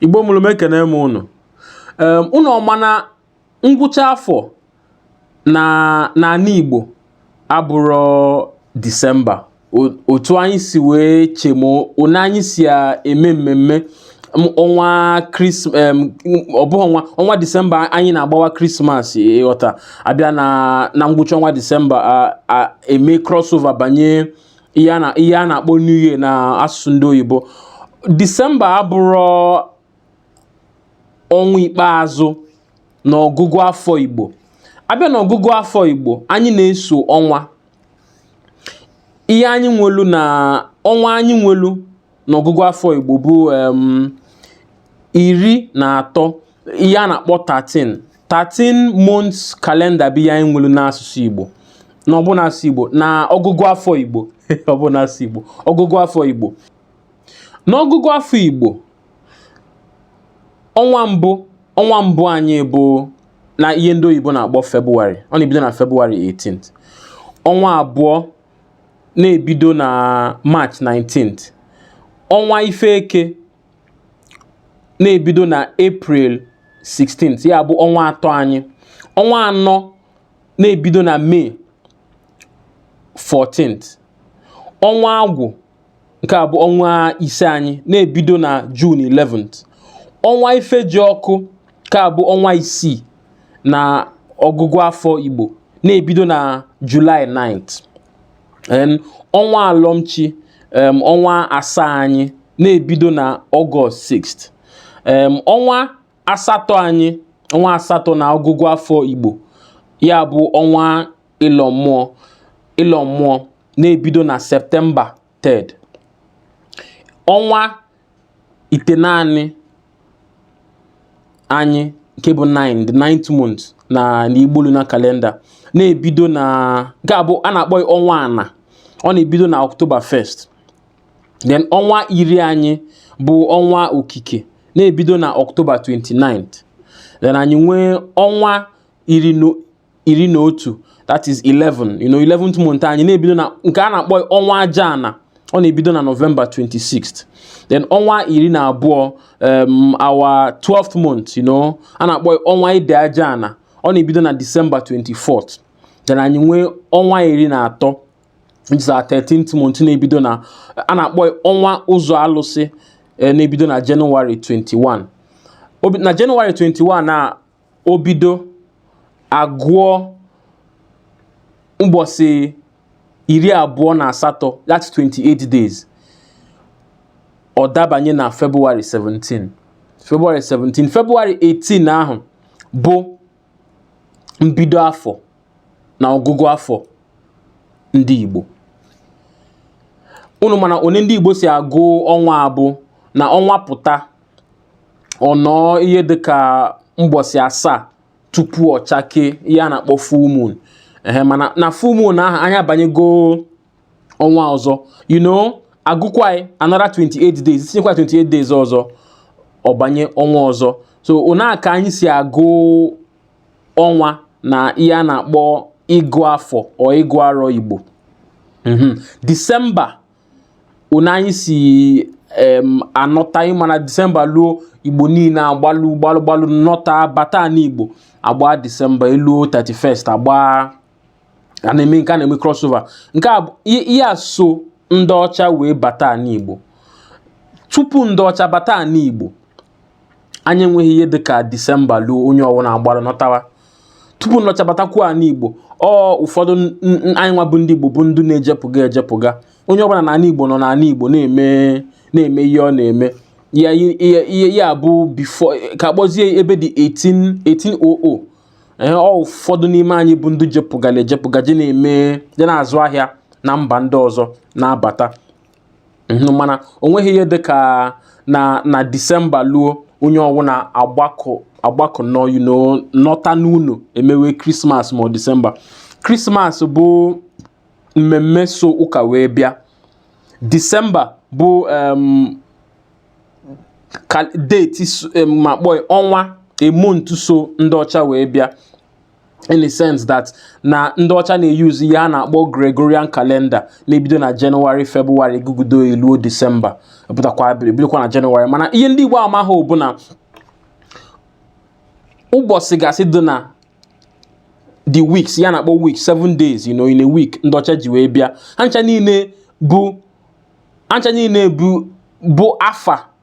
igbo mụlụ m ekene m ụnụ ụnụ ọ ma na ngwụcha afọ na ana igbo abụrọ disemba otu anyị si wee chee na anyị si eme mmemme ọnwa ọ bụghị ọnwa ọnwa disemba anyị na-agbawa krismas ị ghọta a bịa na ngwụcha ọnwa disemba e mee crossover banye ihe a na- ihe a na-akpọ new year na asụsụ ndị oyibo disemba abụrọ ọnwa ikpeazụ n'ọgụgụ afọ igbo a bịa n'ọgụgụ afọ igbo anyị na-eso ọnwa ihe anyị nwelu na ọnwa anyị nwelu n'ọgụgụ afọ Igbo bụ iri na atọ ihe a na-akpọ 13 13 months kalenda bụ ihe anyị nwelu n'asụsụ Igbo na ọ bụ n'asụsụ Igbo na ọgụgụ afọ Igbo ọ bụ n'asụsụ Igbo ọgụgụ afọ Igbo n'ọgụgụ afọ Igbo ọnwa mbụ ọnwa mbụ anyị bụ na ihe ndị oyibo na-akpọ Febụwarị ọ na-ebido na Febụwarị 18 ọnwa abụọ na-ebido na March 19th ọnwa ife eke na-ebido na April 16th ya bụ ọnwa atọ anyị ọnwa anọ na-ebido na May 14th ọnwa agwụ nke bụ ọnwa ise anyị na-ebido na Jun 11 ọnwa ifejiọkụ nke bụ ọnwa isii na ọgụgụ afọ Igbo na-ebido na Julaị 9 ọnwa alọmchi ọnwa asaa anyị na-ebido na Ọgọst 6 ọnwa asatọ anyị ọnwa asatọ na ọgụgụ afọ Igbo ya bụ ọnwa ịlọ mmụọ ịlọ mmụọ na-ebido na septemba 3rd ọnwa itenaanị anyị nke bụ 9 the ninth month na n'Igbo lunar kalenda na-ebido na nke bụ a na-akpọ ya ọnwa ana ọ na-ebido na ọktoba 1st then ọnwa iri anyị bụ ọnwa okike na-ebido na ọktoba 29 then anyị nwee ọnwa iri iri na otu that is 11 you know 11th month anyị na-ebido na nke a na-akpọ ọnwa aja ana ọ na-ebido na nọvemba 26th then ọnwa iri na abụọ um, our 12th month you know a na-akpọ ọnwa ide aja ana ọ na-ebido na disemba 24th then anyị nwee ọnwa iri na atọ which is our 13th month na-ebido na a na-akpọ ọnwa ụzọ alụsị eh, na-ebido na January 21 na January 21 na o bido agụọ mbọsị iri abụọ na asatọ that's 28 days ọ dabanye na February 17 February 17 February 18 ahụ bụ mbido afọ na ọgụgụ afọ ndị Igbo unu ma na one ndị Igbo si agụ ọnwa abụ na ọnwa pụta ọ nọọ ihe dịka mbọsị asaa tupu ọ chakee ihe a na-akpọ full moon ehe mana na full moon ahụ anyị abanyego ọnwa ọzọ you know agụkwanye another 28 days tinyekwa 28 days ọzọ ọ banye ọnwa ọzọ so ona ka anyị si agụ ọnwa na ihe a na-akpọ ịgụ afọ or ịgụ arọ Igbo mhm. December anyị si anọta ị ma na december luo igbo niine agbalụ gbalụ gbalụ nọta bata n'igbo agba december eluo 31st agba a na-eme nke a na-eme crossover nke a ihe a so ndị ọcha wee bata n'igbo tupu ndị ọcha bata n'igbo anyị enweghị ihe dịka disemba luo onye ọwụna agbara nọtawa tupu ndị ọcha batakwu anị igbo ọ ụfọdụ anyị nwa bụ ndị igbo bụ ndị na-ejepụga ejepụga onye ọbụna na anị igbo nọ n'anị igbo na-eme na-eme ihe ọ na-eme ya ihe ya bụ before ka kpọzie ebe dị 18 1800 ee ọ ụfọdụ n'ime anyị bụ ndị jepụgala ejepụga je na-eme je na-azụ ahịa na mba ndị ọzọ na-abata Mhm, mana o nweghị ihe dị ka na na December luo onye ọwụna agbakọ agbakọ nọ you know, nọta n'ụnọ emewe Christmas ma ọ December Christmas bụ mmemme so ụka wee bịa December bụ em, ka date so- em, ma kpọọ ya ọnwa a month so ndị ọcha wee bịa in the sense that na ndị ọcha na-euse ihe a na-akpọ Gregorian calendar na-ebido na January February gụgụdo eluo December pụtakwa bidokwa na January mana ihe ndị Igbo amaha bụ na ụbọsị gasị dị na the weeks ihe a na-akpọ week seven days you know in a week ndị ọcha ji wee bịa ha ncha niile bụ ha ncha niile bụ bụ afa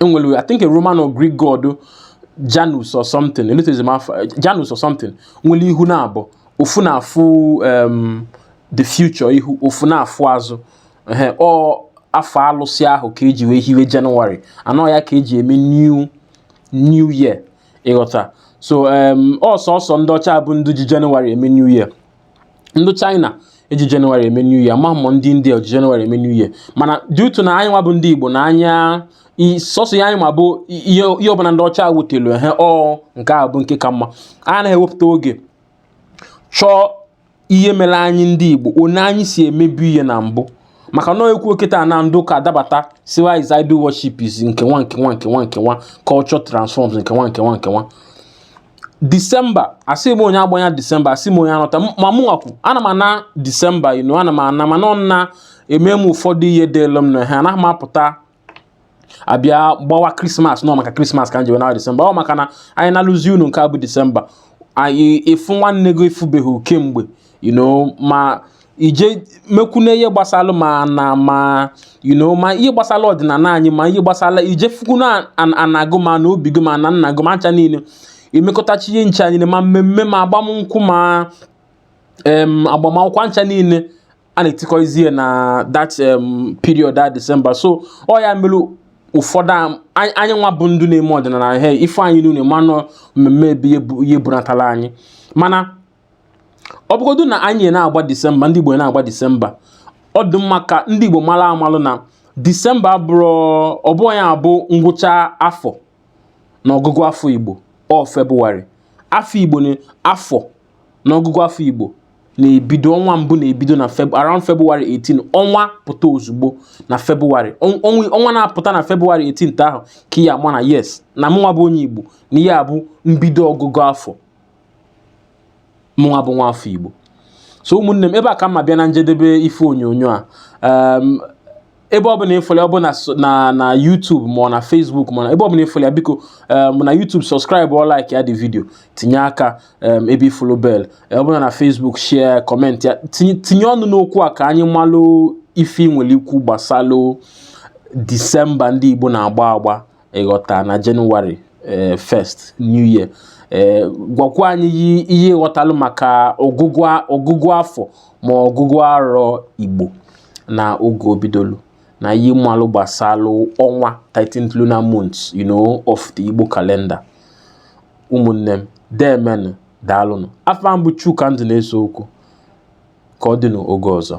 enwelu I think a Roman or Greek god Janus or something elotezi m afa Janus or something nwelu ihu naabọ ofu na-afụ um, the future ihu ofu na-afụ azụ ọ afa alụsị ahụ ka eji wee hiwe January and ọ ya ka eji eme new new year ị ghọta so um, ọ sọsọ ndị ọcha bụ ndị ji January eme new year ndị China eji Jenụwarị eme New Year ma mọ ndị India eji Jenụwarị eme New Year mana due to na anyị nwa bụ ndị Igbo na anyị i- sọsọ ya anyị ma bụ ihe ihe ọbụla ndị ọcha wetelu ehe ọ nke a bụ nke ka mma a anaghị ewepụta oge chọọ ihe mere anyị ndị Igbo one anyị si emebu ihe na mbụ maka na e kwuo kịta na ndị ụka adabata sịwa is idol worship is nke nwa nke nwa nke nwa nke nwa culture transforms nke nwa nke nwa nke nwa disemba asị m onye agbana disemba asị m onye anọta ma mụ nwakwu ana m ana disemba inu ana m ana mana ọ na eme m ụfọdụ ihe dịlụ m na ha anaghị m apụta abịa gbawa krismas nọ maka krismas ka m jewe na disemba ọ maka na anyị na-alazi ụnọ nke a bụ disemba anyị ị fụ nwanne gị ị fụbeghị kemgbe you know ma ije mekwune ihe gbasara ma na ma you know ma ihe gbasara ọdịnala anyị ma ihe gbasara ije fụkwunụ ana gị ma na obi gị ma nna nna gị ma ncha niile emekọtachi ihe nche anyị ma mmemme ma agbamnkwụ ma em agbamakwụkwọ ncha niile a na-etikọizie na that um, period that December so ọ ya mere ụfọdụ anyị nwa bụ ndị na-eme ọdịnala he ife anyị niile manụ mmemme ebe ihe bunatala anyị mana ọ bụgodu na anyị na-agba December ndị Igbo na-agba December ọ dị mma ka ndị Igbo malụ amalụ na December abụrọ ọ bụrọ ya bụ ngwụcha afọ na ọgụgụ afọ Igbo ọ Febụwarị afọ Igbo na afọ n'ọgụgụ afọ Igbo na-ebido ọnwa mbụ na-ebido na around February 18 ọnwa pụta ozugbo na February ọnwa na-apụta na February 18 ahụ ka ị ya-ama na yes na mụnwa bụ onye Igbo na ihe a bụ mbido ọgụgụ afọ mụnwa bụ nwa afọ Igbo so ụmụnne m ebe a ka m na-abịa na njedebe ife onyonyo a ebe ọbụla ị fụlụ ya ọ bụ na na YouTube ma ọ na Facebook ma ebe ọbụla ị fụlụ ya biko um, na YouTube subscribe ọ like ya the video tinye aka um, ebe ị fụlụ bel ọ bụlụ na Facebook share comment ya tinye ọnụ n'okwu a ka anyị malụ ife i nwere ikwu gbasalụ Disemba ndị Igbo na-agba agba ị ghọta na jenụwarị ee first new year ee gwakwa anyị yi- ihe ị ghọtalụ maka ọgụgụ a- ọgụgụ afọ ma ọgụgụ arọ igbo na oge o bidolu na ihe ị malụ gbasalụ ọnwa 13 lunar month you know of the igbo calendar ụmụnne m deemenụ daalụnụ afa m bụ Chuka Nduneseokwu ka ọ dị n'oge ọzọ